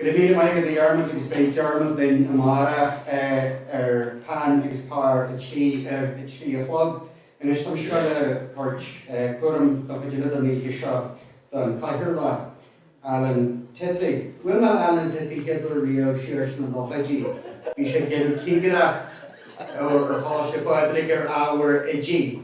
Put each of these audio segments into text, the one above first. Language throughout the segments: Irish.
Go raibh maith agat, a Dhiarmaid, agus beidh Diarmaid linn amárach ar Peann agus Pár ar a trí a chlog. Anois táimse ag dul a thabhairt cúram an chuid eile den oíche seo don chathaoirleach, Alan Titley. Bhuail mé le Alan Titley chéad uair riamh siar sna nóchaidí. Bhí sé ag déanamh cigireacht ar Choláiste Phádraig ar ábhar oidí.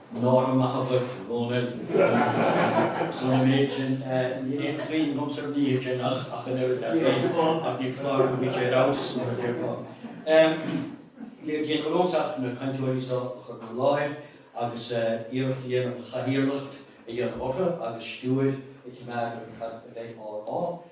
Nára maith dhuit, a Dhónaill, as an méid sin, níl aon chuimhne agamsa ar an oíche sin ach an oiread, dar ndóigh, ach ní foláir nó bhí sé ar fheabhas, mar a déarfá. Níl le déanamh agamsa ach na cainteoirí so a chur in bhur láthair agus iarracht a dhéanamh cathaoirleacht a dhéanamh orthu agus stiúir a choimeád ar cad a bheidh á rá.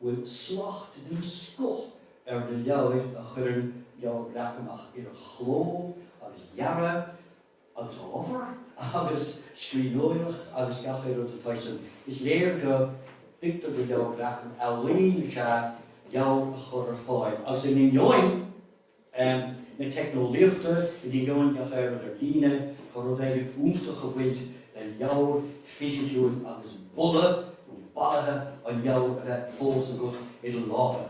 bhfuil slacht den scoth ar na leabhair a chuireann Leabhar Breac amach, idir chló agus dhearadh agus ábhar agus scríbhneoireacht agus gach aon rud atá ansin, is léir go dtuigtear do Leabhar Breac gur ealaín is ea leabhar a chur ar fáil, agus in ainneoin na teicneolaíochta in ainneoin gach aon rud ar líne, tá rud éigin iontach ag baint le leabhar fisiciúil agus boladh, nó baluithe, an leabhair a bheith fós agat i do lámha,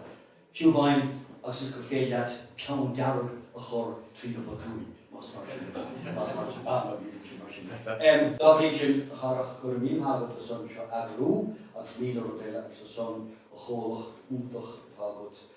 fiú amháin agus is gur féidir leat peann dearg a chur trí na botúin, más mar sin atá. Más mar sin, ah, bhuel, ní bhíonn sé mar sin. Dá bhrí sin, a Dharach, go raibh míle maith agat as an seó a eagrú agus míle rud eile agus as an chomhlacht iontach atá agat.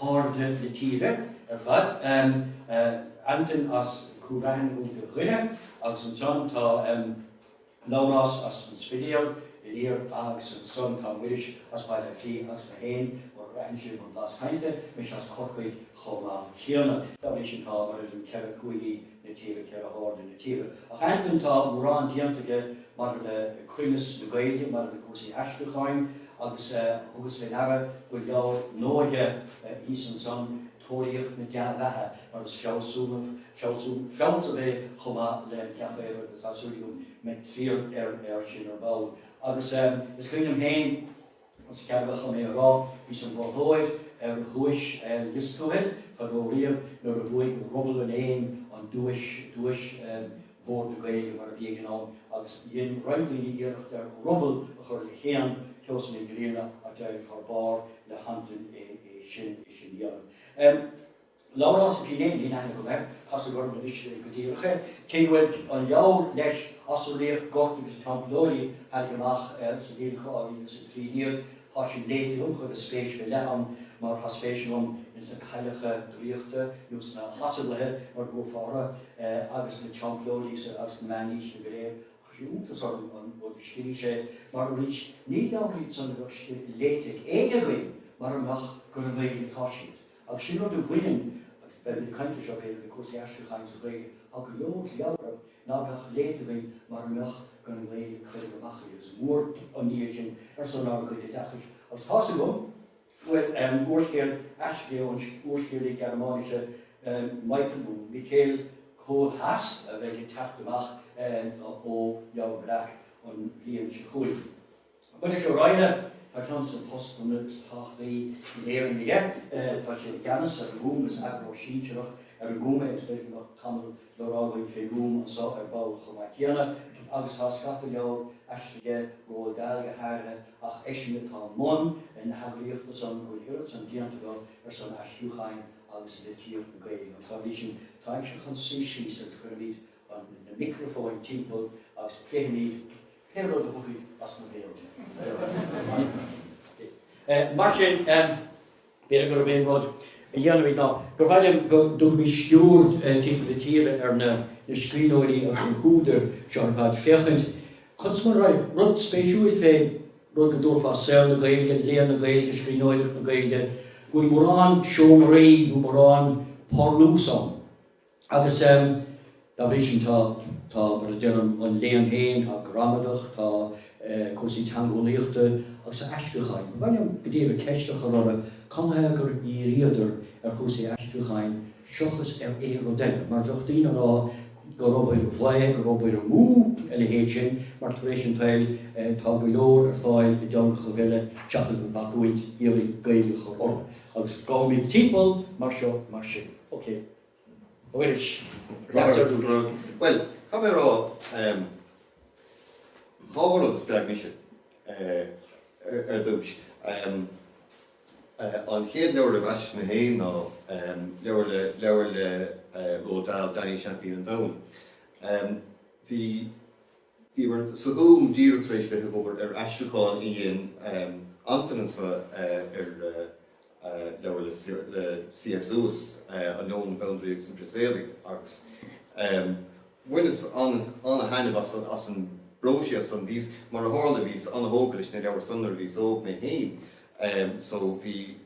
hairde na tíre ar fad, Antain as Cúil Raithin ó Dhoire, agus ansan tá Labhrás as an Spidéal aniar agus ansan tá Muiris as Baile Átha Cliath agus mé féin, mar a bhraithfidh sibh ar mo bhlas cainte, mise as Corcaigh chomh maith céanna. Dá bhrí sin tá, mar a déarfá, 4 cúigí, na tíre, ceithre hairde na tíre. Ach Antain, tá mórán déanta aige maidir le cruinneas na Gaeilge, maidir le cúrsaí aistriúcháin, agus thugas fé ndeara go bhfuil leabhar nua aige thíos ansan, Tóraíocht na Dea-Bheatha, mar is fealsúnach, fealsamh, é chomh maith le gach aon rud agus tá súil agam go mbeidh triall air sin ar ball. Agus is cuimhin liom féin. Más ceadmhach dom é a rá, bhíos im mholtóir ar dhuais Lios Tuathail fadó riamh nuair a bhuaigh Ruball an Éin an duais, duais Bhord na Gaeilge mar a bhí ag an am, agus dhein roinnt daoine iarracht ar ruball a chur le héan Sheosaimh Mhic Grianna ach d'éirigh thar barr le hAntain é sin a dhéanamh. Labhrás Ó Finneadha, níl aithne agam air, casadh orm anois go díreach é, cé go bhfuil an leabhar leis Asarlaíocht, Gort agus Teamplóirí a tháinig amach sa bhliain 2013, tá sin léite agam, chuireas spéis go leith ann mar tá spéis agam ins na cailleacha draíochta nó sna hasarlaithe mar a ghlaofá orthu agus na Teamplóirí agus na meánaoiseanna go léir ach chuir sé iontas orm an rud a scrígh sé mar arís ní leabhar iad san a bheadh léite ag éinne againn mara mbeadh gur i nGaeilge atá siad. Ach sin rud a bhaineann, agus beimid ag caint air seo b'fhéidir, le cúrsaí aistriúcháin sa Ghaeilge, tá go leor leabhra ná beadh léite againn mara mbeadh an Ghaeilge curtha amach agus is mór an ní é sin ar son ár gcuid oideachais. Agus tá's agam go bhfuil úrscéal aistrithe ón úrscéalaí Gearmáinise Michael, nó Michel, Kohlhaas a bheidh ag teacht amach ó Leabhar Breac an bhliain seo chugainn. Muiris Ó Raghallaigh, tá ceann des na postanna is tábhachtaí na hÉireann aige. Tá sé i gceannas ar an nGúm, is eagarthóir sinsearach ar an nGúm é, agus b'fhéidir go mbeadh tamall le rá againn fén nGúm anso ar ball chomh maith céanna, agus tá scata leabhar aistrithe aige, Roald Dahl go háirithe, ach eisean atá i mbun na heagraíochta san, go bhfuil oiread san déanta acu ar son aistriúcháin agus litríocht na Gaeilge. Agus dá bhrí sin táimse chun suí síos agus cuirfimid na micreafóin timpeall agus pléifimid Pé rud a thabharfaidh as mo bhéal mé. Mar sin b'fhéidir gurb é an rud a dhéanfaimid ná gur mhaith liom go dtabharfaimid sciuird timpeall na tíre ar na scríbhneoirí agus na húdair seo ar fad féachaint conas mar a raibh rud spéisiúil fén rud go dtabharfá saol na Gaeilge, léann na Gaeilge, scríbhneoireacht na Gaeilge, go bhfuil mórán seomraí nó mórán parlús ann. Agus dá bhrí sin, tá, tá, mar a deir an, an léann féin, tá gramadach, tá cúrsaí teangeolaíochta agus tá aistriúcháin. Ba mhaith liom go díreach ceist a chur orthu, cad ina thaobh gur dhíríodar ar chúrsaí aistriúcháin seochas ar aon rud eile, mar bheadh daoine á rá gur obair bhaoth, gur obair amú a leithéid sin, mar tar éis an tsaoil tá go leor ar fáil i dteangacha eile seachas bacúint a d'iarraidh Gaeilge a chur orthu. Agus gabhaimid timpeall mar seo, mar sin. OK. A Mhuiris, leatsa ar dtús. Rud, bhuel, caithfidh mé a rá, dhá rud a spreag mise ar dtús. An chéad leabhar a mheasas mé féin ná leabhar le Roald Dahl, Danny Seaimpín an Domhain. Bhí. Bhíomair sa Ghúm díreach tar éis bheith ag obair ar aistriúchán a dhein Antain anseo ar leabhar le C.S. Lewis, An Leon, an Bandraoi agus an Prios Éadaigh, agus bhaineas ana-thaitneamh as an bpróiséas san. Bhíos, mar a tharla, bhíos ana-thógtha leis na leabhair san nuair a bhíos óg mé féin so bhí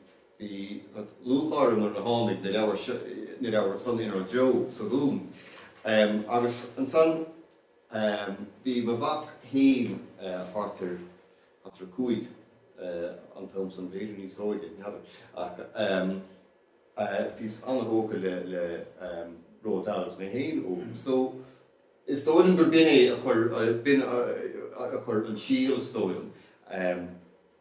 lúcháir orm nuair a tháinig na leabhair san inár dtreo sa Ghúm. Agus ansan. Bhí mo mhac féin thart ar 5 an t-am san, b'fhéidir níos óige, n'fheadar, ach bhíos an-thógtha le Roald Dahl agus mé féin óg so is dóigh liom gur b'in é a chuir, b'in a chuir an síol is dóigh liom.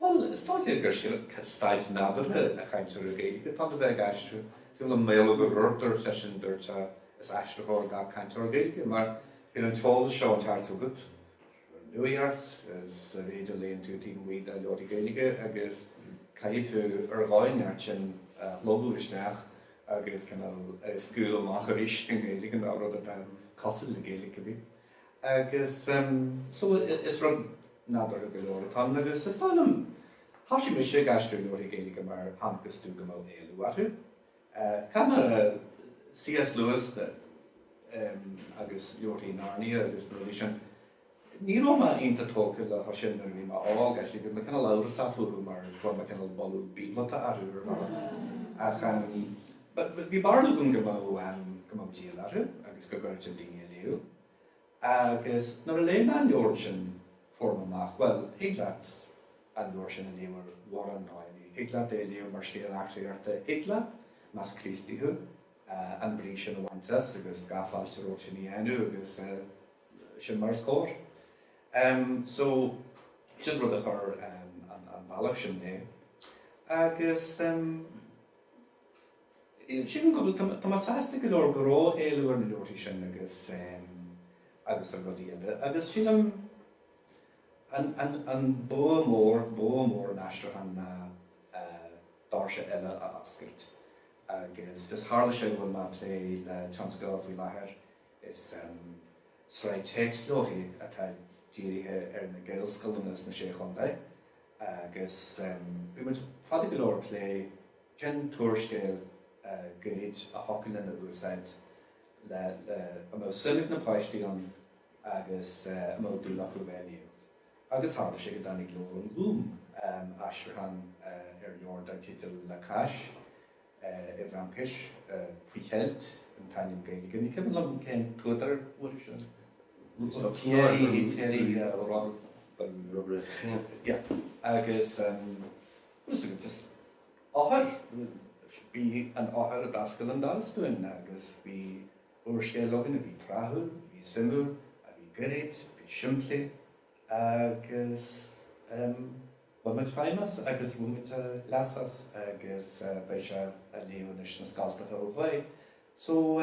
Bhuel, is dóiche gur sin an staid nádúrtha an chainteora Gaeilge atá ann, a bheith ag aistriú, sílim Maolmhaodhóg Ó Ruairc gurbh eisean a dúirt is aistritheoir gach cainteoir Gaeilge, mar bíonn an t-eolas seo ag teacht chugat ón nuacht, is ar éigean léann tú taobh amuigh de leabharthaí Gaeilge agus caithfidh tú ar dhóigh inteacht sin a shlogadh isteach agus cineál scaoileadh amach arís i nGaeilge nó rud atá cosúil le Gaeilge go minic. Agus so, is rud nádúrtha go leor atá ann, agus is dóigh liom, thosaigh mise ag aistriú leabharthaí Gaeilge mar chonacthas dom go mbeadh éileamh orthu. I dtaca le C.S. Lewis de, agus leabharthaí Narnia agus na rudaí sin, ní raibh mé iontach tógtha leo sin nuair a bhí mé óg, actually, bhí mé cineál amhrasach fúthu mar fuair mé cineál boladh bíoblata orthu ar bhealach. Ach bhí barúil agam go mbeadh, go mbeadh díol orthu agus go gcuirfinn daoine a léamh. Agus nuair a léigh mé an leabhar ansin, fuair mé amach, bhuel, thig leat an leabhar sin a léamh ar mhórán dóigheannaí. Thig leat é a léamh mar scéal eachtraíochta, thig leat, más Críostaí thú, an bhrí sin a bhaint as agus gach fáilte romhat sin a dhéanamh agus sin mar is cóir. So, sin rud a chuir an bealach sin mé. Agus. Sin an cúl. Tá mé sásta go leor go raibh éileamh ar na leabharthaí sin agus agus ar rudaí eile agus sílim an an an an bua mór, bua mór an aistriúcháin ná doirse eile a oscailt agus is tharla sé go bhfuil mé ag plé le tionscadal faoi láthair, is sraith téacsleabharthaí atá dírithe ar na Gaelscoileanna sna Sé Chontae agus bhí muid fada go leor ag plé Cén t-úrscéal Gaeilge a thiocfadh linn a úsáid le? A mbeadh suim ag na páistí ann agus a mbeadh dúil acu bheith á léamh? Agus tharla sé go dtáinig leabhar ón Ghúm, aistriúchán ar leabhar dar teideal La Cache, i bhFraincis, Faoi Cheilt an t-ainm Gaeilge. Ní cuimhin liom cén t-údar a bhí leis. Thierry, Thierry, rud ar bith. Agus Is iad is eochair, ba í an eochair a d'oscail an doras dúinn agus bhí úrscéal againn a bhí tráthúil, a bhí suimiúil, a bhí gairid, a bhí simplí agus bhain muid feidhm as agus bhain muid leas as agus beidh sé á léamh anois sna scoltacha ó thuaidh. So.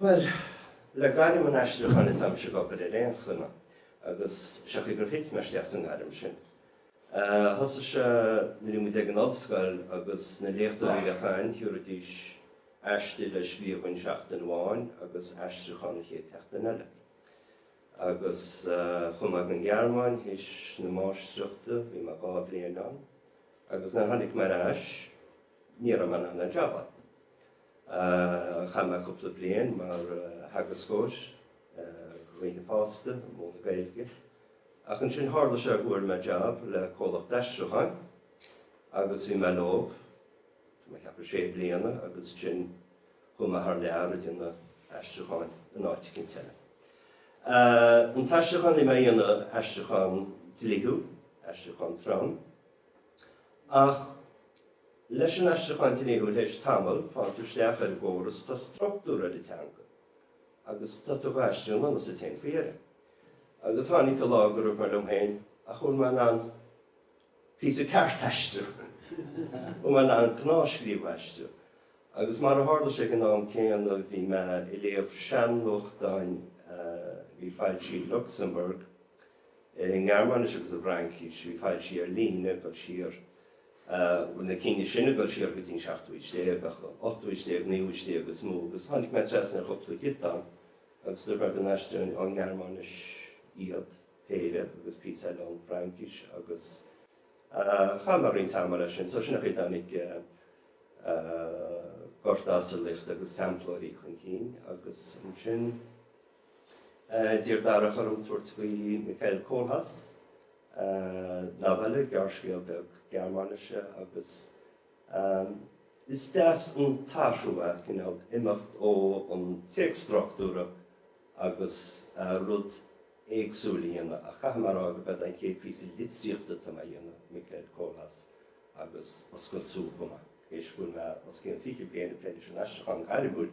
Bhuel, le gairm an aistriúcháin atáimse ag obair ar aon chuma, agus sé an chaoi gur thit mé isteach sa ngairm sin. Thosaigh sé nuair a bhí muid ag an ollscoil agus na léachtóirí a bhí againn, thiúrfaidís aiste le scríobh dhúinn seachtain amháin agus aistriúchán an chéad tseachtain eile. Agus chuaigh mé ag an nGearmáin théis na máistreachta, bhí mé dhá bhliain ann, agus nuair a tháinig mé ar ais, ní raibh mé in ann aon jab a fháil. Chaith mé cúpla bliain mar theagascóir ar dhaoine fásta ag múineadh Gaeilge, ach ansin tharla sé go bhfuair mé jab le comhlacht aistriúcháin agus bhí mé leo, tá mé ag ceapadh, sé bliana agus ansin chuaigh mé thar lear ag déanamh aistriúcháin in áit eicínt eile. An t-aistriúchán a bhí mé a dhéanamh, aistriúchán dlíthiúil, aistriúchán trom. Ach leis an aistriúchán dlíthiúil théis tamaill, faigheann tú isteach ar an gcóras, tá struchtúr ar an teanga agus tá tú dhá aistriú i ngan fhios duit féin faoi dheireadh. Agus tháinig an lá gur dhúirt mé liom féin ach bhfuil mé in ann píosa ceart a aistriú, bhfuil mé in ann gnáthscríobh a aistriú. Agus mar a tharla sé, ag an am céanna, bhí mé ag léamh sean-nuachtáin a bhí foilsithe i Lucsamburg, i nGearmáinis agus i bhFraincis, bhí foilsithe ar líne ag dul siar, bhuel, na cinn sin ag dul siar go dtí an seachtú haois déag, ach ochtú haois déag, naoú haois déag is mó, agus tháinig mé trasna ar chúpla giotán agus dúirt mé go n-aistreoinn ón nGearmáinis iad, péire, agus píosa eile ón bhFraincis, agus chaith mé roinnt ama leis sin. So sin an chaoi a dtáinig Gorta, Asarlaíocht agus Teamplóirí chun cinn, agus ansin. D'iarr Darach orm tabhairt faoi Michael Kohlhaas, novella, gearrscéal beag Gearmáinise, agus is deas an t-athrú é, cineál, imeacht ón téacs struchtúrach agus rud éagsúil a dhéanamh. Ach caithfear a rá gurb é an chéad phíosa litríochta atáim á dhéanamh, Michael Kohlhaas, agus oscailt súl chomh maith, théis go bhfuil mé os cionn fiche bliain ag plé leis an aistriúchán gairmiúil.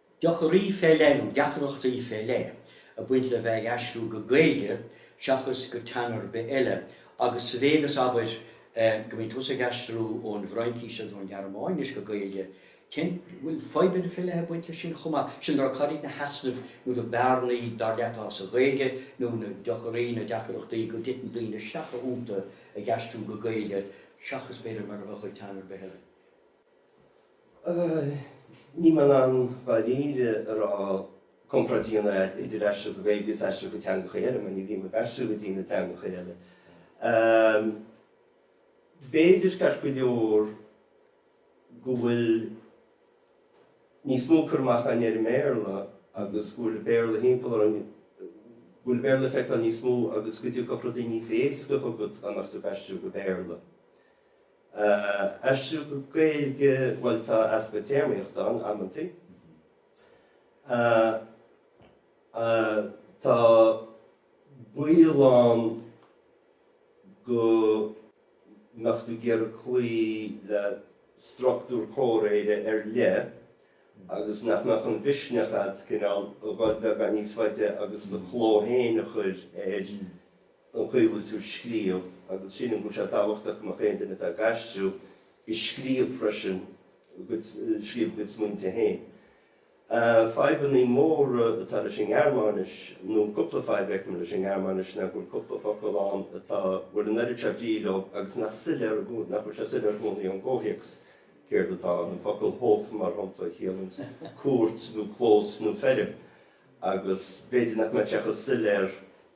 Deacraí fé leith, nó deacrachtaí fé leith, ag baint le bheith ag aistriú go Gaeilge seachas go teanga ar bith eile, agus sa mhéid is abair go mbíonn tusa ag aistriú ón bhFraincís agus ón Ghearmáinis go Gaeilge, cén. bhfuil fadhbanna fé leith ag baint leis sin chomh maith? Sin le rá, cad iad na heasnaimh nó na bearnaí, dar leat, atá sa Ghaeilge, nó na deacraí, na deacrachtaí, go dtiteann daoine isteach iontu ag aistriú go Gaeilge seachas, b'fhéidir, mar a bheadh ag teanga ar bith eile? Ní maith an dáiríre a rá comparáid a dhéanamh idir aistriú go Gaeilge agus aistriú go teangacha eile, mar ní bhím ag aistriú go dtí na teangacha eile. B'fhéidir ceart go leor go bhfuil níos mó cur amach againn ar an mBéarla agus go bhfuil an Béarla timpeall orainn, go bhfuil an Béarla le feiceáil níos mó agus go dtiocfadh rudaí níos éasca chugat a nochtadh ag aistriú go Béarla. aistriú go Gaeilge, bhuel, tá easpa téarmaíochta ann amantaí. Tá baol ann go mbeadh tú ag iarraidh cloí le struchtúr comhréire ar leith agus nach mbeadh an misneach agat cineál a dhul beagán níos faide agus do chló féin a chur air. an chaoi a bhfuil tú ag scríobh, agus sílim go bhfuil sé tábhachtach go mbeadh aon duine atá ag aistriú ag scríobh freisin, ag scríobh a gcuid smaointe féin. Fadhbanna móra atá leis an nGearmáinis, nó cúpla fadhb a fheicim leis an nGearmáinis, ná go bhfuil cúpla focal ann atá, bhuel, an oiread seo brí leo agus nach soiléir, nach bhfuil sé soiléir i gcónaí ón gcomhthéacs céard atá ann. An focal Hof, mar shampla, a chiallaíonns cúirt nó clós nó feirm, agus b'fhéidir nach mbeadh sé chomh soiléir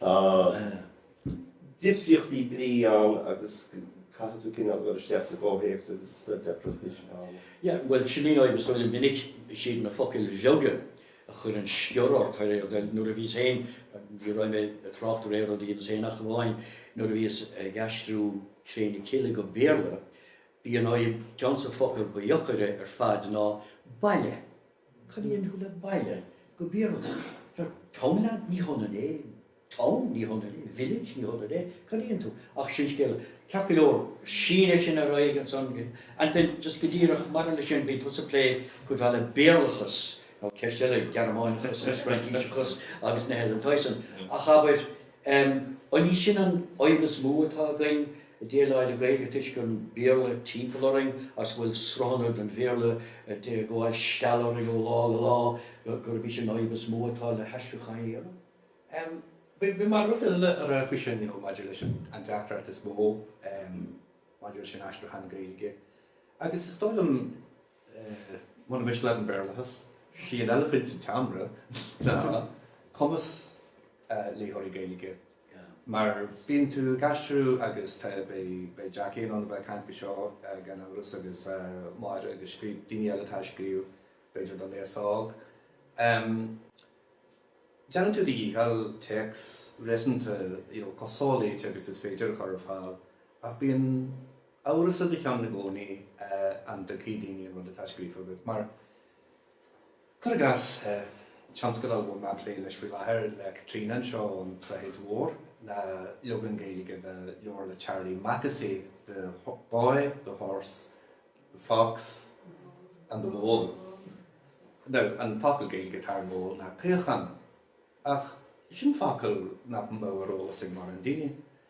Tá difríochtaí brí ann agus caithfidh tú cineál dul isteach sa gcomhthéacs agus staid deacrachta sin a fhoghlaim. Yeah, bhuel, sin í an fhadhb is doilí, is minic, is iad na focail bheaga a chuireann sciorr ort thar aon rud eile. Nuair a bhíos féin, ní raibh mé ag trácht ar aon rud a dhéanfas éinne ach amháin nuair a bhíos ag aistriú Cré na Cille go Béarla, b'í an fhadhb, ceann, an focal ba dheacra ar fad ná baile. Cónaíonn tú i mbaile Béarlachas. Tá town leat, ní hionann é. Town, ní hionann é. Village, ní hionann é. Cónaíonn tú. Ach sin scéal. Ceart go leor, sin é sin ar aghaidh ansan, and then just go díreach maidir leis sin, bíonn tusa ag plé cuid mhaith le Béarlachas, nó ceist eile, Gearmáineachas agus Fraincíseachas agus an Ollainnis, ach abair, Um an ní sin an aidhm is mó atá againn, dála na Gaeilge toisc an Béarla timpeall orainn agus go bhfuil sruthanna den Bhéarla ag gabháil stealladh orainn ó lá go lá, gurb í sin an aidhm is mó atá le haistriúcháin eile. Um b'in mar rud eile a rá faoi sin, you know, maidir leis an an deacracht is mó, um maidir leis an aistriúchán Gaeilge agus is dóigh liom, mura miste leat, an Béarlachas, sí an eilifint sa tseomra ná cumas léitheoirí Gaeilge. Mar bíonn tú ag aistriú agus beidh Jackie in ann a bheith ag caint faoi seo gan amhras agus Máire agus daoine eile atá ag scríobh, b'fhéidir don aos óg. Déanann tú do dhícheall téacs réasúnta chomh soléite agus is féidir a chur ar fáil ach bíonn amhras i do cheann i gcónaí an dtuigfidh daoine an rud atá scríofa agat. Mar, cuir i gcás, tionscadal a bhfuil mé ag plé leis faoi láthair le Caitríona anseo An tSnáthaid Mhór ná leagan Gaeilge de leabhar le Charlie Mackesy, The Boy, the Horse, the Fox and the Mole. Now, an focal Gaeilge atá ar mole ná caochán, ach sin focal nach mbeadh ar eolas ag mórán daoine.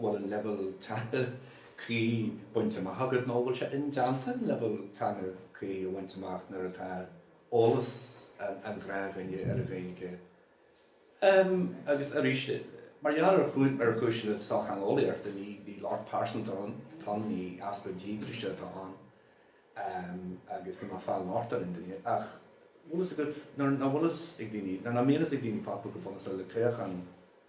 bhfuil an leibhéal teanga cuí bainte amach agat nó an bhfuil sé indéanta an leibhéal teanga cuí a bhaint amach nuair atá eolas an ghnáthdhuine ar an Ghaeilge. Agus arís, mar gheall ar chúiseanna sochtheangeolaíochta, ní locht pearsanta atá ann, ní easpa díograise atá ann agus níl mé ag fáil locht ar dhuine. Ach bhfuil fhios agat, nuair nach bhfuil fhios ag daoine, nuair nach mbíonn fhios ag daoine focal chomh bunúsach le caochán,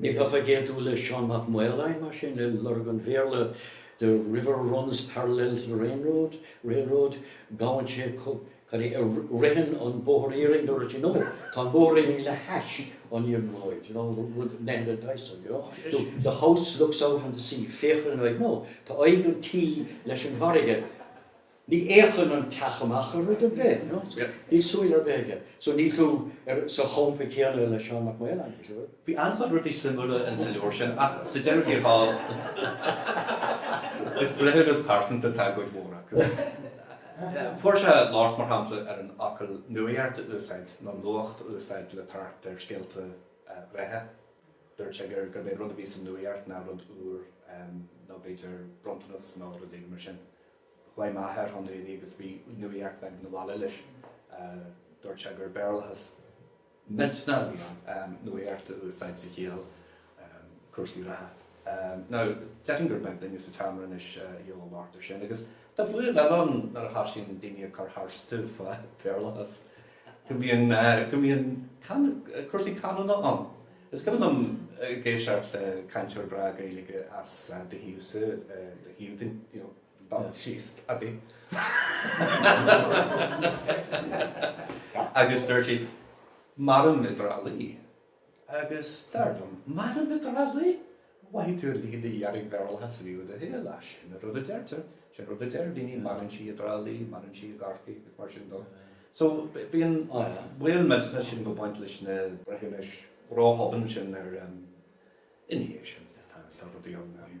Ní bheifeá ag aontú le Seán Mac Maoláin, mar sin, le lorg an Bhéarla 'the river runs parallel to the railroad, railroad, gabhann sé cad é, ar ritheann an bóthar iarainn', do rud sin, nó 'tá an abhainn le hais an iarnróid', you know, rud Nehru Dyson, you know, the, the house looks out on the sea, féachann, nó 'tá aghaidh an tí leis an bhfarraige'. Ní fhéachann an teach amach ar rud ar bith, you know, so níl súil ar bith aige. So níl tú sa champa céanna le Seán Mac Maoláin, bhuel. Bhí an-chuid rudaí suimiúla in sa leabhar sin, ach sa deireadh thiar thall, is breithiúnas pearsanta atá i gcuid mhór acu. Fuair sé locht, mar shampla, ar an fhocal 'nuaíocht' a úsáid, nó 'nuacht' a úsáid le tabhairt ar scéalta reatha. Dúirt sé gur, gurb é rud a bhí sa nuaíocht ná rud úr, nó b'fhéidir bronntanas nó rud éigin mar sin. Chuaigh m'athair chun aonaigh agus bhí nuaíocht bheag 'na bhaile leis. Dúirt sé gur Béarlachas millte a bhí ann, nuaíocht a úsáid sa chiall cúrsaí reatha. Now, déarfainn gur beag duine sa tseomra anois a gheobhadh locht air sin, agus tá baol eile ann nuair a thosaíonn daoine ag cur tharstu fá Bhéarlachas. go mbíonn go mbíonn cúrsaí canúna ann. Is cuimhin liom ag éisteacht le cainteoir breá Gaeilge as do thaobhsa, do thím thú, you know, dul síos adaí agus dúirt siad, mairim i dTrá Lí. Agus dar liom, maireann i dTrá Lí! Mhothaigh tú an líne dhearg Béarlachas roimh do shúil, ach sin an rud a deirtear, sin an rud a deir daoine, maireann sí i dTrá Lí, maireann sí i gCorcaigh agus mar sin dó. So, bíonn baol millteanach sin ag baint leis na breithiúnais ró-thobann sin ach, ina dhiaidh sin, tá rudaí ann.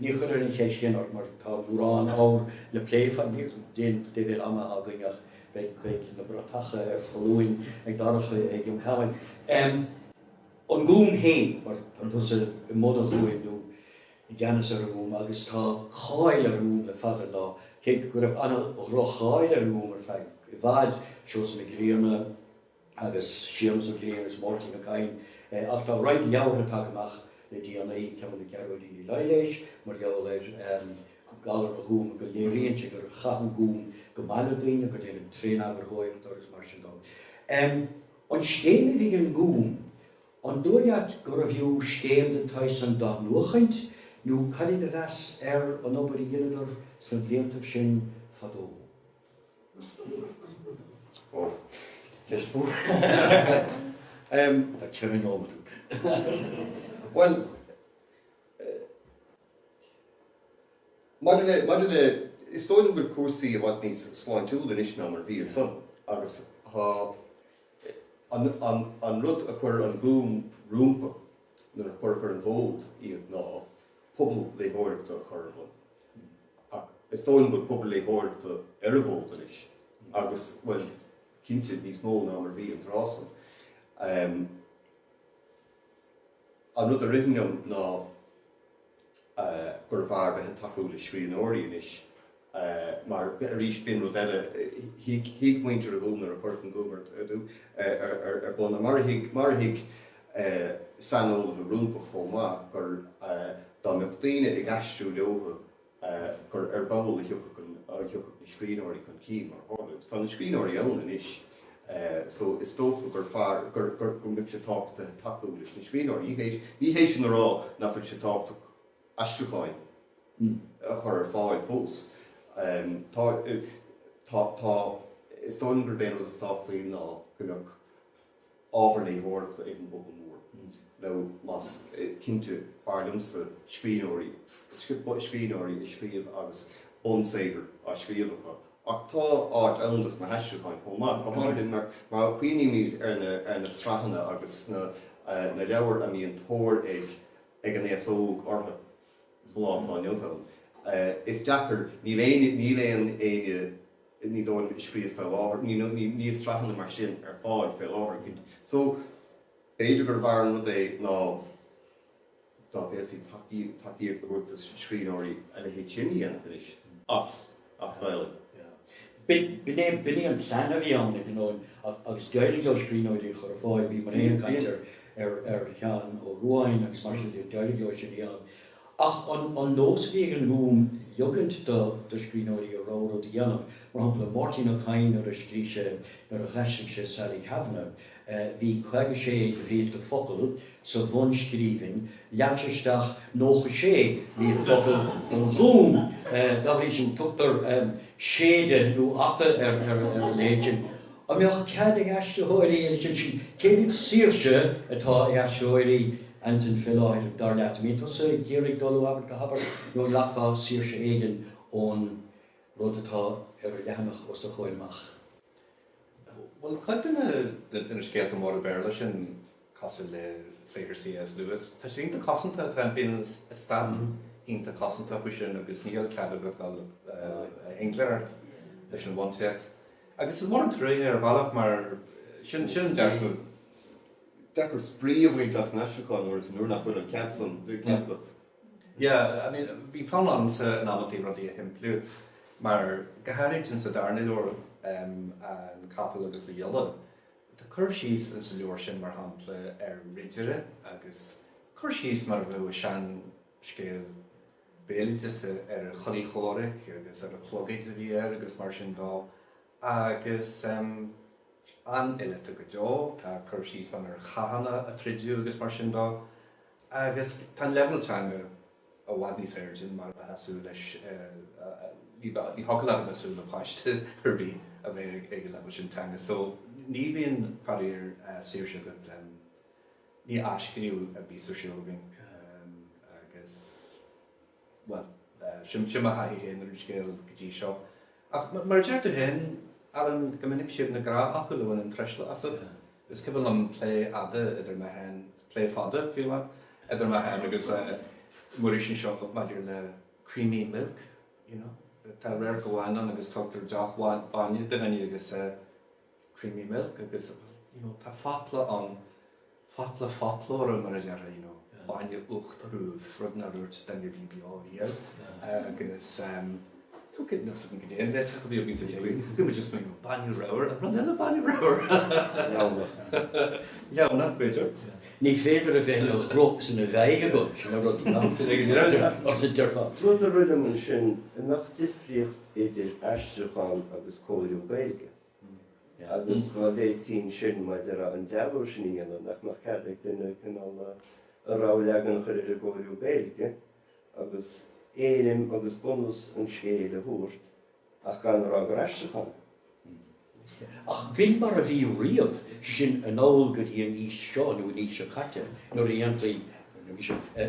Ní chuirfead an cheist sin ort mar tá mórán ábhair le plé fad níos mó den leibhéal ama againn ach beidh na bratacha ar foluain ag Darach ag an tamhain. An Gúm féin, mar tá tusa i mbun an Ghúim nó i gceannas ar an nGúm agus tá cáil ar an nGúm le fada an lá, cé go raibh ana dhroch cháil ar an nGúm ar feadh i bhfad, Seosamh Mac Grianna, agus Séamus Ó Grianna agus Máirtín Ó Cadhain, ach tá roinnt leabhartha tagtha amach le déanaí, ceann le Gearóidín Uí Laighléis, mar gheall ar Ghallán an Ghúim, go léiríonn sé gur chaith an Gúm go maith le daoine, gur déanadh tréaneagarthóireacht orthu agus mar sin dó. An scéim a bhí ag an nGúm, an dóigh leat gurbh fhiú scéim den tsaghas san d'athnuachaint nó cad é do mheas ar an obair a dheineadar sna bliantaibh sin fadó? Maidir le, is dóigh liom go bhfuil cúrsaí i bhfad níos sláintiúla anois ná mar a bhí ansan agus tá an rud a chuir an Gúm rompu nuair a cuireadh ar an bhfód iad ná pobal léitheoireachta a chur ar bun. Ach is dóigh liom go bhfuil pobal léitheoireachta ar an bhfód anois agus, bhuel, cinnte níos mó ná mar a bhí an tráth san. An rud a ritheann liom ná gurbh fhearr bheith ag tacú le scríbhneoirí anois mar, arís, b'in rud eile, thuig muintir an Ghúim nuair a cuireadh an Gúm ar bun, mar a thuig, saineolaithe rompu chomh maith, gur dá mbeadh daoine ag aistriú leothu gur ar ball a thiocfadh na scríbhneoirí chun cinn, mar a tharla. Agus tá na scríbhneoirí ann anois, só is dócha gur fearr, go mbeadh sé tábhachtach tacú leis na scríbhneoirí. Ní hé sin a rá nach bhfuil sé tábhachtach aistriúcháin a chur ar fáil fós. Tá, tá, tá. Is dóigh liom gurb é an rud is tábhachtaí ná go mbeadh. ábhar léitheoireachta ag an bpobal mór, nó más cinnte, b'fhearr liomsa scríbhneoirí, scríbhneoirí ag scríobh agus bunsaothar á scríobh acu. Ach tá áit ann dos na haistriúcháin chomh maith, go háirithe mar a chuimhnímid ar na sraitheanna agus na leabhair a mbíonn tóir ag an aos óg orthu sa lá atá inniu ann. Is deacair, níl aoinne, ní dóigh liom ag scríobh fé láthair, ní níl sraitheanna mar sin ar fáil fé láthair. So b'fhéidir gur bhfearr an rud é ná dá bhféadfaí tacaíocht tacaíocht a thabhairt do scríbhneoirí a leithéid sin a dhéanamh anois. as as Ghaelainn. B'in é b'in é an plean a bhí ann ag an am agus d'éirigh leo scríbhneoirí a chur ar fáil, bhí mé féin ag caint ar ar Sheán Ó Ruadháin agus mar sin de, d'éirigh leo sin a dhéanamh Ach an nós a bhí ag an nGúm ligeaint do scríbhneoirí a rogha rud a dhéanamh, mar shampla Máirtín Ó Cadhain nuair a scrígh sé nuair a dh'aistrigh sé Sally Kavanagh, bhí caoga sé de mhílte focal sa bhunscríbhinn, lig sé isteach nócha sé míle focal don Ghúm. Dá bhrí sin tugtar séideadh nó ata ar a leithéid sin. An mbeadh cead ag aistritheoirí a leithéid sin? Cé mhéad saoirse atá ag aistritheoirí Antain fé láthair, dar leat? An mbíonn tusa ag iarraidh dul ó abairt go habairt nó an nglacfá saoirse éigin ón rud atá ar an leathanach os do chomhair amach? Bhuel, cuid de na scéalta móra Béarla sin, cosúil le saothar C.S. Lewis. Tá sé iontach cosanta, tá an t-eastát iontach cosanta faoi sin agus níl cead agat dul i ngleic leis an bhuntéacs. Agus is mór an truaighe ar bhealach. Is deacair spraoi a bhaint as an aistriúchán nuair nach bhfuil an cead san agat. Yeah, I mean, bhí fonn ormsa in amantaí rudaí a shimpliú mar, go háirid insa darna leabhar, An Capall agus a Ghiolla, Tá cur síos sa leabhar sin, mar shampla, ar ridire agus cur síos mar a bheadh i seanscéal béaloideasa ar a chulaith chomhraic agus ar an chlogad a bhí air agus mar sin dó agus an-fhileata go deo. Tá cur síos ann ar chathanna a troideadh agus mar sin dó agus tá an leibhéal teanga i bhfad níos airde ná mar a bheifeá ag súil leis, ní thiocfadh leat a bheith ag súil le páiste ar bith a bheith ag an leibhéal sin teanga. So ní bhíonn, faraor, saoirse agat, ní athscríobh a bhíos ar siúl againn agus, bhuel, sin mo thaithí féin ar an scéal go dtí seo. Ach mar a deir tú féin, Alan, go minic is iad na gnáthfhocail a bhaineann truisle asat. Is cuimhin liom plé fhada idir mé féin, plé fada, bhí mé, idir mé féin agus Muiris anseo maidir le creamy milk, you know. Tá radharc amháin ann agus tugtar deoch bhainne do dhuine agus é creamy milk agus, you know, tá focla ann, focla foclóra mar a déarfá, you know, bainne uachtarúil, rud nár úirt duine a bhí beo riamh agus, Ní féidir a bheith ina ghruth is ina mheadhg agat, sin an rud is dearfa. Rud a rith liom ansin, an mbeadh difríocht idir aistriúchán agus cóiriú Gaeilge? Agus dá bhféadfaí ansin, mar a déarfá, an dealú sin a dhéanamh, nach mbeadh cead ag duine cineál a rogha leagan a chur ar an gcóiriú Gaeilge agus éirim agus bunús an scéil a thabhairt ach gan a rá gur aistriúchán. Ach b'in mar a bhí riamh, sin anall go dtí an aois seo nó an aois seo caite nuair a dhéantaí,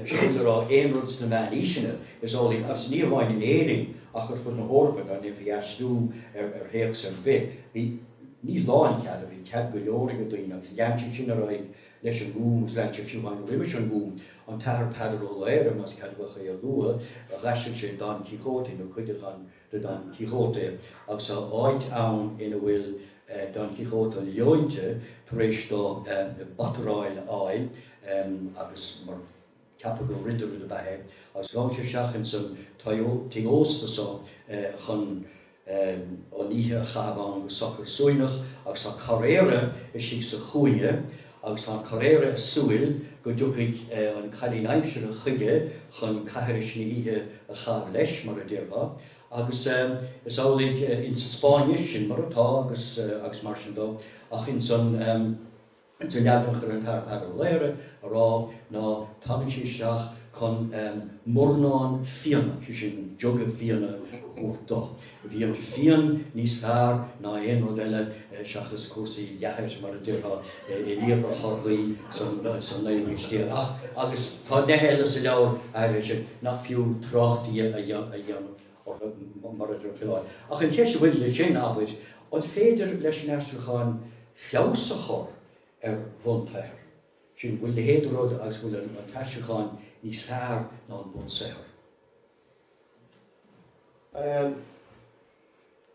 sin le rá, aon rud sna meánaoiseanna, is amhlaidh, agus ní hamháin in Éirinn ach ar fud na hEorpa, dá ndéanfaí aistriú ar théacs ar bith, bhí, ní lánchead, bhí cead go leor ag na daoine agus lean sé sin ar aghaidh leis an nGúm agus lean sé fiú amháin roimis an nGúm. An tAthair Peadar Ó Laoghaire, más ceadmhach é a lua, d'aistrigh sé Don Quixote, nó cuid de Don de Don Quixote, agus tá áit ann ina bhfuil Don Quixote leointe tar éis dó bataráil a fháil agus mar. Ceapadh gur ridire ab ea é agus ghabh sé isteach ins an tigh ósta so chun an oíche a chaitheamh ann go socair suaimhneach, agus tá carraera istigh sa chúinne agus tá an carraera ag súil go dtiocfaidh an cailín aimsire chuige chun caithris na hoíche a chaitheamh leis, mar a déarfá, agus is amhlaidh ins an Spáinnis sin mar atá agus mar sin dó, ach ins an. sa leagan a chuir an tAthair Ó Laoghaire ar fáil ná tagann sí isteach chun mornán fíona, sé sin jug a' fíona thabhairt dó. Bhí an fíon níos fearr ná aon rud eile seachas cúrsaí leathair mar a déarfá i líonra Chorcaí san naoú haois déag. Ach agus tá neithe eile sa leabhar, arís, nach fiú trácht di a dhéanamh. orthu, mar a deir Ó Coileáin. Ach an cheist a bhaineann leis sin, abair, an féidir leis an aistriúchán feabhas a chur ar bhunsaothar? Sin, an bhfuil leithéid de rud agus go bhfuil an t-aistriúchán níos fearr ná an bunsaothar?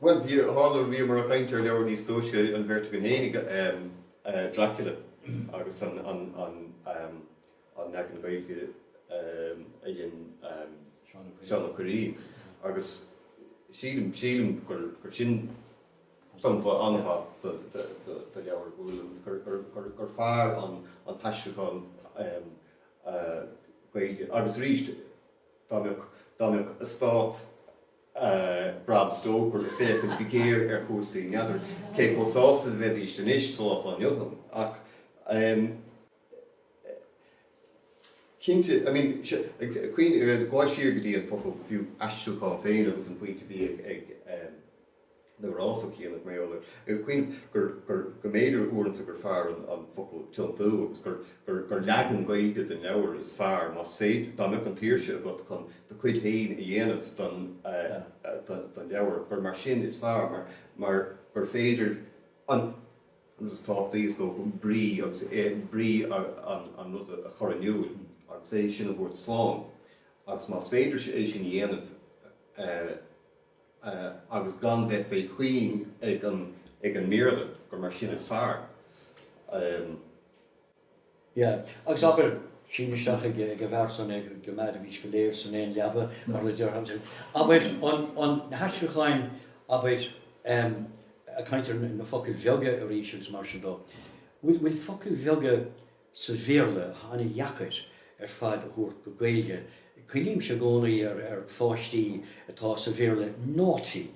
Bhuel, bhí, tharla go rabhamar ag caint ar leabhair níos túisce, an bheirt againn féin ag. Dracula agus an. An leagan Gaeilge a dhein Seán Ó Cuirrín? Agus sílim, sílim gur sin sampla an-mhaith de leabhar Uladh, gur fearr an t-aistriúchán Gaeilge. Agus arís, dá mbeadh, dá mbeadh eastát Bram Stoker ag féachaint go géar ar chúrsaí n'fheadar, cé chomh sásta a bheidís anois, sa lá atá inniu ann? Ach. Cinnte, I mean, caoineadh, gabháil siar go dtí an focal, fiú, aistriúchán féin agus an pointe a bhí ag Aonghus ó chianaibh, go mba eol dóibh, ag caoineadh gur, gur, go mb'fhéidir uaireanta gur fearr an focal tiontú agus gur, gur, gur leagan Gaeilge den leabhar is fearr, más féidir, dá mbeadh an tsaoirse agat chun do chuid féin a dhéanamh den, den, den leabhar, gur mar sin is fearr mar, mar gur féidir an. agus is tábhachtaí, is dócha, brí agus brí an ruda a chur in iúl agus é sin a thabhairt slán, agus más féidir é sin a dhéanamh agus gan bheith faoi chuing ag an mBéarla, gur mar sin is fearr. Yeah. Agus abair, sín isteach ag a' bhfear san é, go mairimís go léir san aon leaba, mar a déarfá, abair, an, an, na haistriúcháin, abair, ehm, a' caint ar na focail bheaga arís agus mar sin dó. Bhfuil, bhfuil focail bheaga sa Bhéarla an-deacair ar fad a thabhairt go Gaeilge? Cuimhnímse i gcónaí ar, ar pháistí atá sa Bhéarla naughty,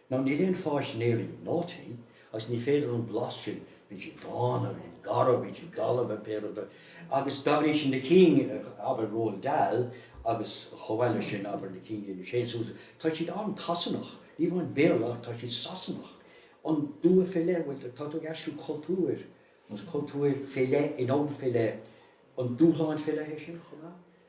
Ná níl aon pháiste in Éirinn naughty, agus ní féidir an blas sin, bíonn siad dána, bíonn garbh, bíonn siad dalba nó pé rud é. Agus dá bhrí sin na cinn, abair Roald Dahl agus chomh mhaith leis sin, abair na cinn inar sheinn Sousa, tá siad an-tSasanach, ní amháin Béarla ach tá siad Sasanach. An dua fé leith, bhuel tá tú ag aistriú cultúir agus cultúir fé leith in am fé leith, an dúshlán fé leith é sin chomh maith?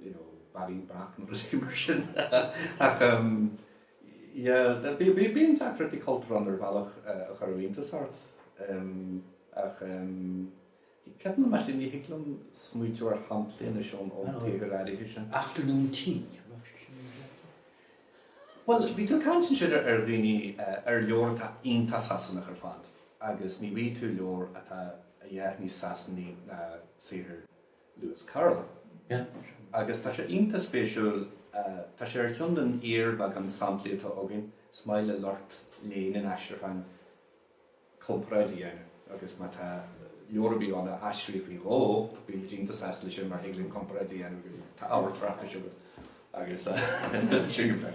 you know, bairín breac nó rudaí mar sin ach yeah, bíonn deacrachtaí cultúrtha ann ar bhealach a chuirfeadh iontas ort ach cé mhéad maith sin ní thig liom smaointiú ar shamplaí anois ón tsaothar áirithe sin. Afternoon Tea, an raibh sé sin ina bhlianta? Bhuel, bhí tú ag caint ansin ar dhaoine, ar leabhar atá iontach Sasanach ar fad agus ní bhfaighidh tú leabhar atá a dhath níos Sasanaí ná saothar Lewis Carroll. Agus tá sé iontach spéisiúil, tá sé ar cheann den fhíorbheagán samplaí atá againn, is maith le lucht léinn an aistriúcháin comparáid a dhéanamh, agus má tá leabhar ar bith ann a aistríodh faoi dhó, bíonn muid iontach sásta leis sin, mar thig linn comparáid a dhéanamh agus tá ábhar tráchtais agat agus sin go breá.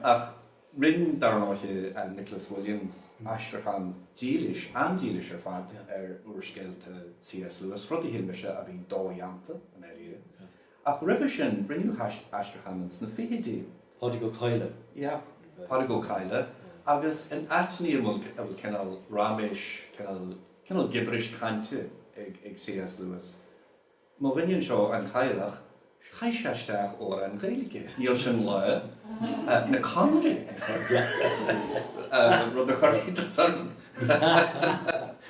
Ach rinn, ar ndóighe, Nicholas Williams aistriúchán dílis, an-dílis ar fad, ar úrscéalta C.S. Lewis, rud a shíl mise a bhí dodhéanta dáiríre. Ach roimhe sin, rinneadh aistriúcháin sna fichidí. Pádraig Ó Cadhla, yeah. Pádraig Ó Cadhla, agus in áiteanna a bhfuil a bhfuil cineál raiméis, cineál cineál gibiris cainte ag ag C.S. Lewis. Mo dhuine anseo, an Cadhlach, chaith sé isteach amhráin Ghaeilge, Níl Sé Ina Lá, An Conaire, rud a chuir iontas orm.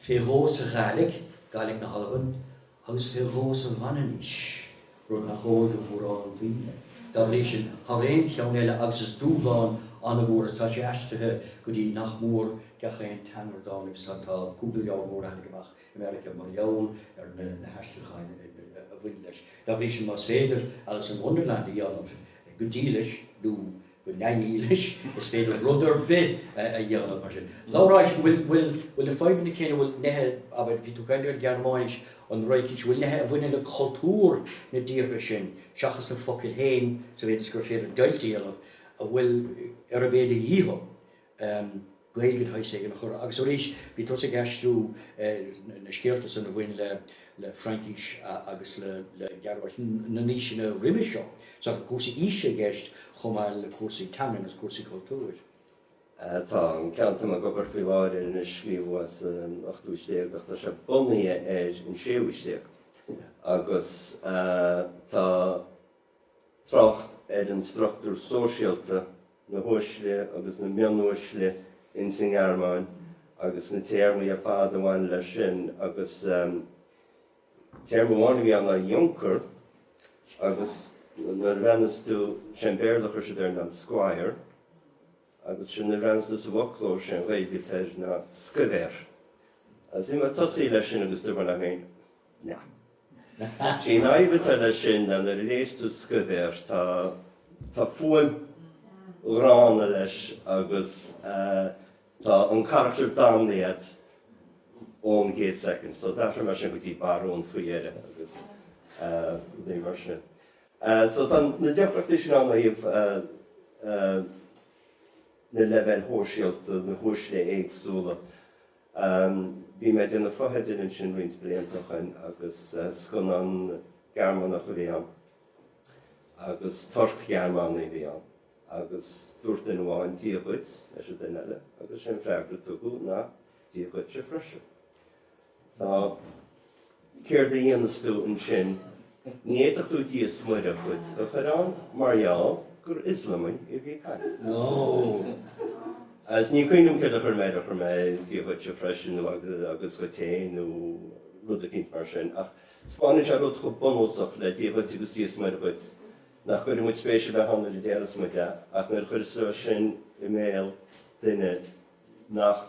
fé dhó sa Ghaidhlig, Gaidhlig na hAlban, agus fé dhó sa Mhanainnis, rud nach eol do mhórán daoine. Dá bhrí sin, thar aon cheann eile, agus is dúshlán an-mhór é is tá sé aistrithe go dtí nach mór gach aon teanga ar domhan agus tá cúpla leabhar mór a tháinig amach i Meiriceá mar gheall ar na haistriúcháin a bhain leis. Dá bhrí sin, más féidir Alice in Wonderland a dhéanamh go dílis nó, go neamhdhílis, is féidir rud ar bith a dhéanamh mar sin. Labhráis, an bhfuil, bhfuil, bhfuil na fadhbanna céanna, bhfuil neithe, abair, bhí tú ag caint ar an Ghearmáinis, an Fhraincis, bhfuil neithe a bhaineann le cultúr na dtíortha sin, seachas na focail féin, sa mhéid is gur féidir deighilt a dhéanamh, a bhfuil ar do mhíle dícheall, Gaeilge de shaghas éigin a chur. Agus arís, bhí tusa ag aistriú na scéalta san a bhain le Fraincís agus le Gearmáinis na n-aoiseanna roimhe seo. Sea, bhí cúrsaí aoise i gceist chomh maith le cúrsaí teangan agus cúrsaí cultúir. Tá an ceann atá mé ag obair faoi láthair air anois scríobhadh é san ochtú haois déag ach tá sé bunaithe ar an séú haois déag agus tá trácht ar an struchtúr sóisialta a na huaisle agus na mionuaisle ins an nGearmáin agus na téarmaí ar fad a bhain leis sin agus téarma amháin a bhí ann ná junker agus nuair a bhreathnaíos tú, 'sé an Béarla a chuir siad air ná squire agus sin nuair a bhreathnaíos tú sa bhfoclóir, 'sé an Ghaeilge atá air ná scuibhéir. Agus bhí mé ag tosaí leis sin agus dúirt mé liom féin, Ach an bhéim atá leis sin, nuair a léis tú scuibhéar, tá fuaim ghránna leis agus tá an carachtar damnaithe agat ón gcéad soicind. So d'athraigh mé sin go dtí barún faoi dheireadh agus mar sin. So tá na deacrachtaí sin ann ó thaobh na leibhéil shóisialta, na huaisle éagsúla. Um, bhí mé ag déanamh fotheidil ansin roinnt blianta o shoin agus scannán Gearmánach a bhí ann agus Turc-Ghearmánaigh a bhí ann agus dúirt duine amháin Dia dhuit leis an duine eile agus sé an freagra a tugadh ná Dia dhuitse freisin. Tá. Céard a dhéanfas tú ansin? Ní fhéadfá Dia is Muire dhuit a chur ann mar gheall gur Ioslamaigh a bhí agat. Nó agus ní chuimhním céard a chuir mé air, chuir mé Dia dhuitse freisin nó agus dhuit féin nó rud eicínt mar sin. Ach spáineann sé rud chomh bunúsach le Dia dhuit agus Dia is Muire dhuit nach gcuireann muid spéis ar bith ann nuair a déarfas muid é, ach nuair a chuirfeas tú é sin i mbéal duine nach.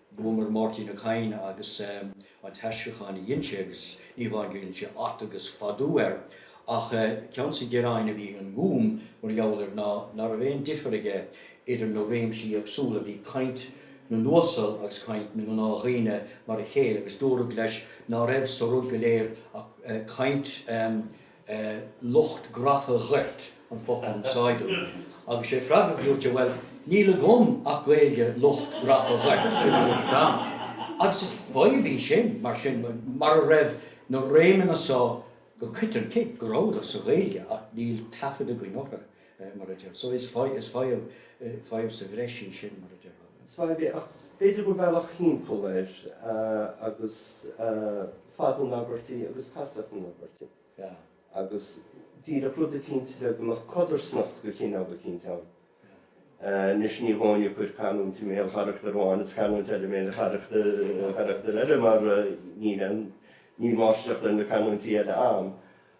Luamar Máirtín Ó Cadhain agus an t-aistriúchán a dhein sé, agus ní hamháin gur dhein sé at agus fadú air, ach ceann des na gearáin a bhí ag an nGúm mar gheall air ná ná raibh aon difear aige idir na réimsí éagsúla, bhí caint na n-uasal agus caint na ngnáthdhaoine mar a chéile, agus dúradh leis ná raibh sa rud go léir ach caint. lucht grafa gort an focal a úsáideadh agus sé freagra a luaitear, bhuel, níl agam ach Gaeilge lucht grafa gort, sin é an t-am. Agus is fadhb í sin, mar sin, mar ná raibh na réimeanna so go coiteann, cé go rabhadar sa Ghaeilge ach níl taifead againn orthu, mar a deir so, is fadhb, fadhb sa bhreis í sin, mar a deir an. Is fadhb é, ach b'fhéidir gur bealach timpeall air ná fad na n-abairtí agus castacht na n-abairtí agus díreach rud eicínt le go mbeadh codarsnacht de chineál eicínt ann. Anois ní dóigh liom cur canúint i mbéal carachtar amháin is canúint eile i mbéal carachtar eile mar níl aon, níl máistreacht ar na canúintí eile agam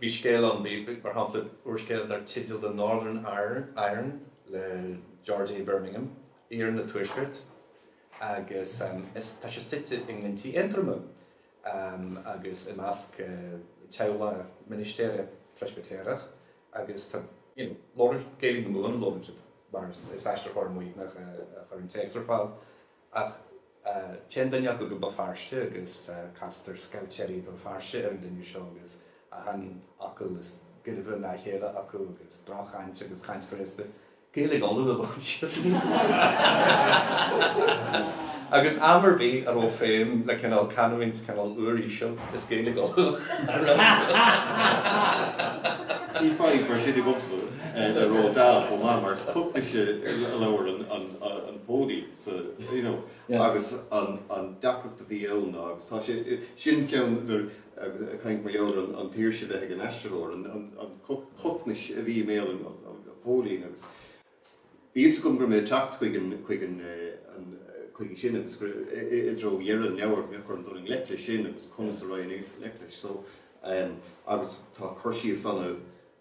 Bhí scéal ann, mar shampla, úrscéal dar teideal The Northern Iron le George A. Birmingham, Iarann an Tuaiscirt, agus tá sé suite i nGlinntí Aontroma agus i measc teaghlaigh ministéara Preispitéirigh agus tá, you know, Gaeilge na Mumhan á labhairt acu ansan mar is aistritheoir Muimhneach a chuir an téacs ar fáil. Ach téann duine acu go Béal Feirste agus castar scaibhtéirí Bhéal Feirste ar an duine seo agus achan fhocal is gairbhe ná a chéile acu agus droch-chaint agus caint ghraosta Ghaeilge Uladh a labhair siad. Agus am ar bith a raibh feidhm le cineál canúint cineál uiríseal, is Gaeilge Uladh a raibh acu. Bhí fadhb mar sin agamsa le Roald Dahl chomh maith mar is Cocnais a labhrann an póilín. sa, you know, agus an, an deacracht a bhí ann ná, agus tá sé, sin ceann nuair, agus ag caint mar gheall ar an tsaoirse bheith ag an aistritheoir, an, an, an cocnais a bhí i mbéal an, an, an phóilín agus bhí fhios agam go raibh mé ag teacht chuig an, chuig an, an, chuige sin agus gur, i, i dtreo dheireadh an leabhair go mbeadh orm dul i ngleic leis sin agus conas a raghainn i ngleic leis so, ehm, agus tá cur síos ana,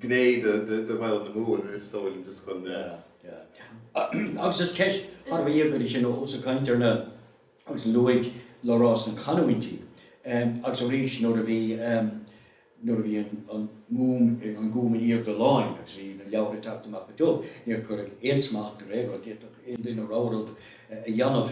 gné de Ghaeilge na Mumhan, is dóigh liom, just chun. Agus is ceist thar a bheith íogair í sin ós ag caint ar na, agus luaigh Labhrás na canúintí, agus arís nuair a bhí, nuair a bhí an Gúm, an Gúm in aoirde láin agus bhí na leabhartha ag teacht amach go tiubh, níor cuireadh aon smacht ar aon rud, d'fhéadfadh aon duine a rogha rud, a dhéanamh.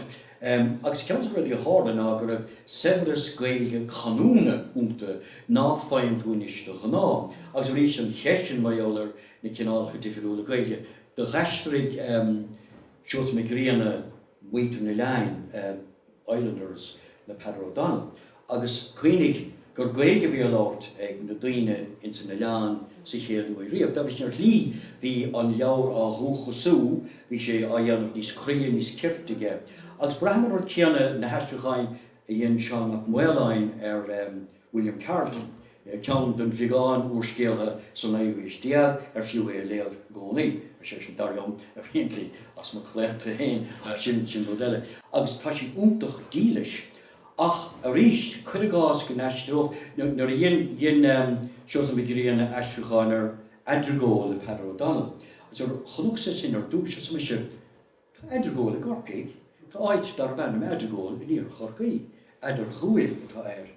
Agus ceann de na rudaí a tharla ná go raibh saibhreas Gaeilge canúna iontu ná faigheann tú anois de ghnáth. Agus arís, an cheist sin mar gheall ar na cineálacha difiriúla Gaeilge. Do dh'aistrigh Seosamh Mac Grianna Muintir an Oileáin, Islanders, le Peadar O'Donnell. agus cuimhnigh gur Gaeilge a bhí á labhairt ag na daoine ins an oileán sa chéad uair riamh. Dá bhrí sin, ar shlí, bhí an leabhar á dhúchasú, bhí sé á dhéanamh níos cruinne, níos cirte aige. Agus braithim an rud céanna na haistriúcháin a dhein Seán Mac Maoláin ar William Carleton, ceann den bheagán úrscéalaithe sa naoú haois déag ar fiú é a léamh i gcónaí, sé sin, dar liom, evidently as mo chlaonta féin, ach sin rud eile. Agus tá sé iontach dílis. Ach arís, cuir i gcás go n-aistreodh, nó nuair a dhein, dhein Seosamh Mac Grianna aistriúchán ar Adrigole le Peadar O'Donnell, agus nuair a chonacsa sin ar dtúis, arsa mise, Tá Adrigole i gCorcaigh, tá áit darb ainm Adrigole in iarthar Chorcaí, Eadar Ghabhail atá air,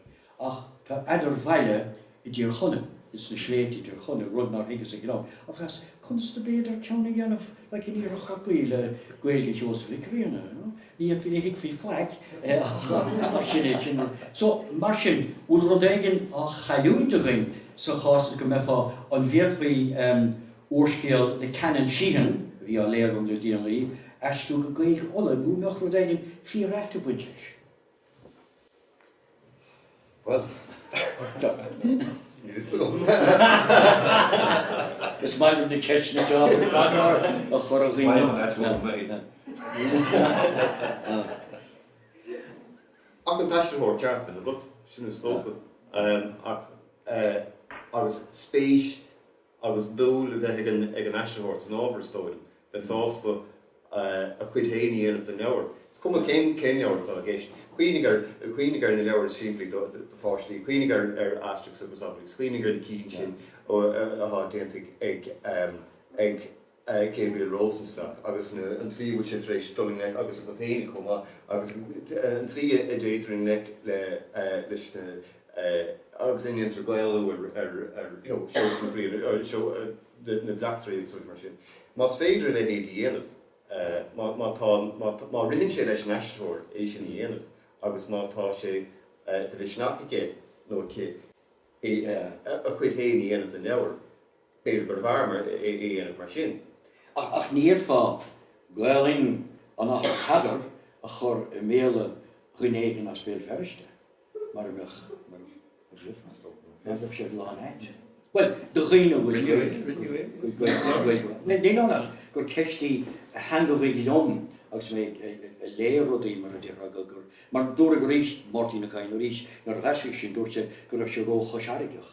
ach tá Eadarbhaile, i dTír Chonaill, ins na sléibhte i dTír Chonaill, rud nár thuigeas ag an am, agus conas ab fhéidir ceann a dhéanamh, like, in Iarthar Chorcaí le Gaeilge Sheosaimh Mhic Ghrianna, you know. Ní fhéadfaí, ní thuigfí faic, ach sin é, sin é. So, mar sin, bhfuil rud éigin á chailliúint againn sa chás san, go mbeifeá, an bhféadfaí, em, úrscéal le Canon Sheehan, a bhí á léamh agam le déanaí, aistriú go Gaeilge Uladh, nó an mbeadh rud éigin fíor-ait ag baint leis? Is maith liom na ceisteanna seo a chur ar dhaoine. Ach an t-aistritheoir ceart agat, sin is dócha, agus spéis agus dúil a bheith ag an aistritheoir san ábhar, is dóigh liom, bheith sásta a chuid féin a dhéanamh den leabhar, is cuma cén leabhar atá i gceist. Cuimhnigh ar na leabhair is simplí do pháistí, cuimhnigh ar Asterix agus Obelix, cuimhnigh ar na cinn sin atá déanta ag. Gabriel Rosenstock, agus an tslí a bhfuil sé tar éis dul i ngleic, agus Antain chomh maith, agus an tslí a dtéitear i ngleic leis na, agus a ndéantar Gaelú ar, you know, Seosamh Mac Grianna, na bleachtairí agus rudaí mar sin. Más féidir a leithéid a dhéanamh, má tá, má ritheann sé leis an aistritheoir é sin a dhéanamh agus má tá sé de mhisneach aige nó aici a chuid féin a dhéanamh den leabhar, B'fhéidir gurbh fhearr é a dhéanamh mar sin. Ach ní fhéadfá Gaolainn an Athar Peadar a chur i mbéal duine éigin as Béal Feirste mura mbeadh sé lán ait. Bhuel, do dhaoine a bhfuil Gaolainn acu. Ní nach gur ceist í a theangmhaigh liom agus mé ag léamh rudaí, mar a déarfá, mar dúradh arís, Máirtín Ó Cadhain arís, nuair a haistríodh sin, dúirt sé go raibh sé ró-choisfharraigeach.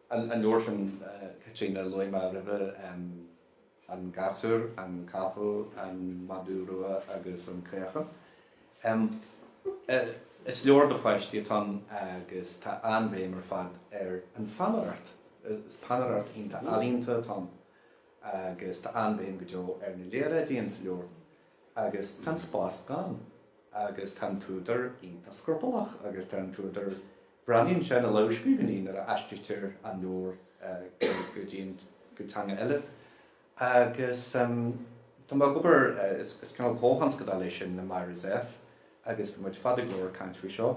An leabhar sin, a Chaitríona, a luaigh mé roimhe, an gasúr, an capall, an madadh rua agus an caochán. Is leabhar do pháistí atá ann agus tá an-bhéim ar fad ar an pheannaireacht. Is peannaireacht iontach ealaíonta atá ann agus tá an-bhéim go deo ar na léaráidí ins an leabhar. Agus tá an spás gann. Agus tá an t-údar iontach scrupallach. Agus tá an t-údar, breathnaíonn sé na lamhscríbhinní nuair a aistrítear an leabhar go dtí an, go teanga eile. Agus tá mé ag obair, is cineál comhthionscadail é sin le Myra Zepf agus bhí muid fada go leor ag caint faoi seo.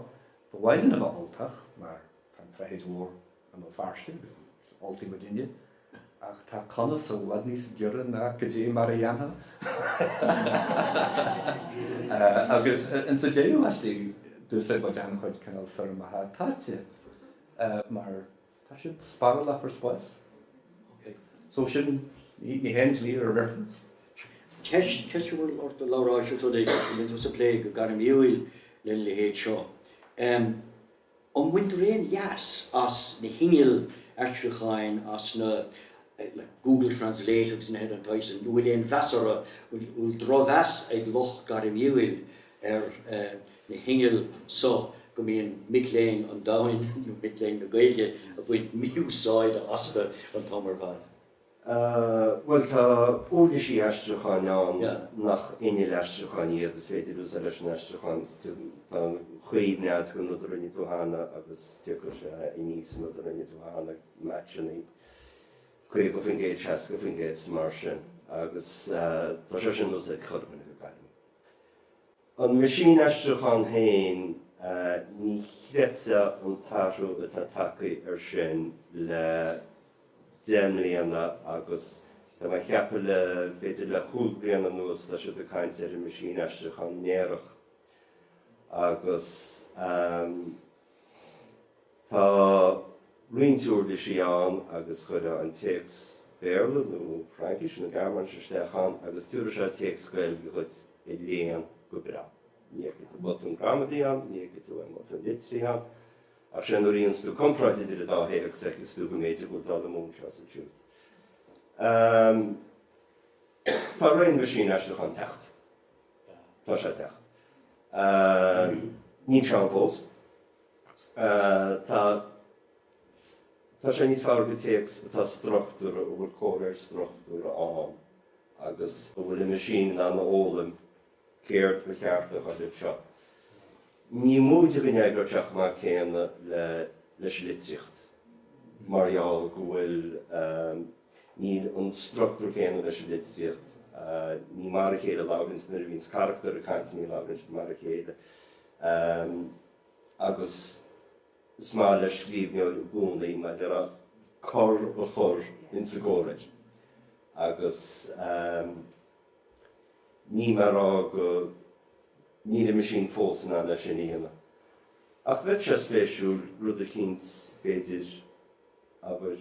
Ba mhaith linn a bheith Ultach mar tá an tSaithéid mhór an Old fairsing agus gur Ultaigh muidinne, ach tá conas i bhfad níos giorra ná cad é mar a dhéanfadh agus in sa deireadh is dóigh d'úsáid muid an-chuid cineál foirmeacha táite mar tá siad spárálach ar spás so sin ní haon dlí ar reference. Ceist, ceist a bhfuil ort, a Labhráis is rud é a mbíonn tú ag plé go gairmiúil lena leithéid seo. An mbaintear aon leas as na hinnill aistriúcháin, as na, like, Google Translate agus nithe den tsaghas sin, an bhfuil aon mheas orthu, an bhfuil drochmheas ag lucht gairmiúil ar na hinnill so go mbíonn mic léinn an domhain, nó mic léinn na Gaeilge, ag baint mí-úsáide astu an t-am ar fad? Bhuel, tá uirlisí aistriúcháin ann nach innill aistriúcháin iad, is féidir a úsáid leis an aistriúchán, tá cuimhne acu ar an rud a rinne tú cheana agus tiocfaidh sé aníos an rud a rinne tú cheana, matching, 50%, 60% is mar sin, agus tá sé sin in úsáid curtha againn go gairid. An meaisín aistriúcháin féin, ní chreidfeá an t-athrú atá tagtha air sin le deich mbliana agus tá mé ag ceapadh b'fhéidir le chúig bliana anuas tá siad ag caint ar an meaisín aistriúcháin néarach agus Tá roinnt uirlisí ann agus cuireadh an téacs Béarla nó Fraincise nó Gearmáinise isteach ann agus tabharfaidh sé téacs Gaeilge dhuit a léann go breá. Ní fheicfidh tú botún gramadaí ann, ní fheicfidh tú aon bhotún litrithe ann, ach sé nuair a dhéanfas tú comparáid idir an dá théacs a fheicfeas tú go mb'fhéidir go bhfuil dul amú anseo is ansiúd. Tá ré an mheaisín aistriúcháin ag teacht. Tá sé ag teacht. Níl sé ann fós. Tá sé níos fearr do théacs atá struchtúrtha, a bhfuil comhréir struchtúrtha ann agus a bhfuil an meaisín in ann a fhoghlaim céard ba cheart a ghabháil anseo. Ní móide go n-eagraítear mar an gcéanna leis an litríocht mar gheall go bhfuil. Níl an struchtúr céanna leis an litríocht. Ní mar a chéile a labhraíonns nuair a bhíonns carachtair ag caint, ní labhraíonn siad mar a chéile agus is maith le scríbhneoir i gcónaí mar a déarfá cor a chur insa gcomhréir agus ní mar a rá go níl an meaisín fós in ann é sin a dhéanamh. Ach bheadh sé spéisiúil rud eicínt, b'fhéidir, abair,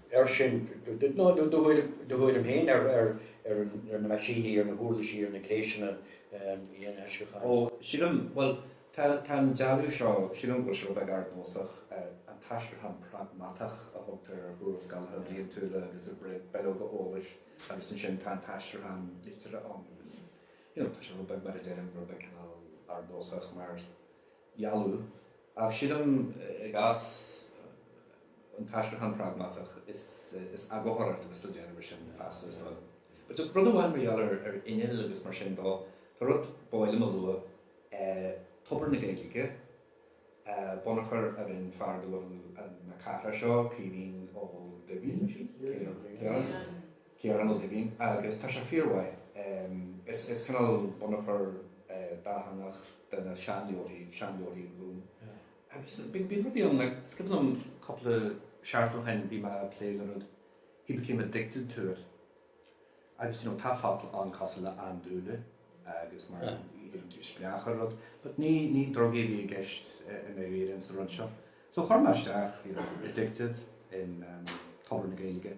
air sin, nó do thuairim féin ar na meaisíní, ar na huirlisí, ar na gléasanna aistriúcháin. Ó, sílim, bhuel, tá an dealú seo, sílim go bhfuil sé rud beag ardnósach, an t-aistriúchán pragmatach a thugtar ar thuarascálacha bliantúla agus ar bhileoga eolais agus ansin tá an t-aistriúchán liteartha ann agus, you know, tá sé rud beag, mar a deirim, rud beag cineál ardnósach mar, dhealú. Ach sílim, i gcás an t-aistriúchán pragmatach, is eagarthóireacht a déanfar air sin feasta, is dóigh. But just rud amháin mar gheall ar innill agus mar sin dó, tá rud ab áil liom a lua, Tobar na Gaedhilge, bunachar a rinne fear de bhunadh na cathrach seo, Caoimhín Ó Duibhín, an é sin? Ciarán? Ciarán Ó Duibhín, Agus tá sé fíormhaith. Is cineál bunachar dátheangach de na seanleabharthaí, seanleabharthaí an Ghúim. Agus bíonn rudaí ann, like, is cuimhin liom cúpla seachtain ó shin bhí mé ag plé le rud, he became addicted to it. Agus, you know, tá focail ann cosúil le andúile agus mar a bheith spleách ar rud. But ní, ní drugaí a bhí i gceist i ndáiríre ins an rud seo. So chuir mé isteach, you know, addicted in Tobar na Gaeilge.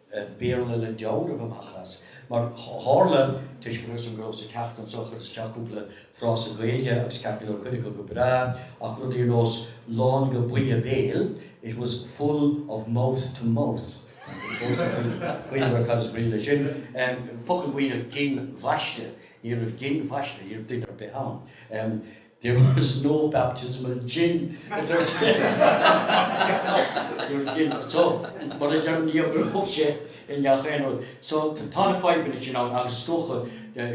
Béarla le dealramh amach as, mar tharla, toisc go raibh a fhios agam go rabhas ag teacht anso, chuireas isteach cúpla frása Gaeilge agus cheap mé go raibh cuid acu go breá ach rudaí ar nós lán go buinne béil, it was full of mouth to mouth, fós ag cuimhneamh ar cad is brí leis sin, focal buidhe gin bhaiste, ní raibh gin bhaiste, ní raibh duine ar bith ann. There was no baptism of gin, a dúirt Ginn. So, mar a deirim, ní oibreodh sé i ngach aon rud. So, tá na fadhbanna sin ann agus is dócha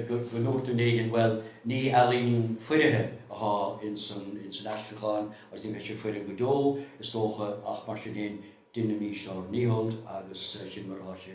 go ndúirt duine éigin, bhuel, ní ealaín foirfe atá ins an aistriúchán agus ní bheidh sé foirfe go deo, is dócha, ach mar sin féin, deinimís ár ndícheall agus sin mar atá sé.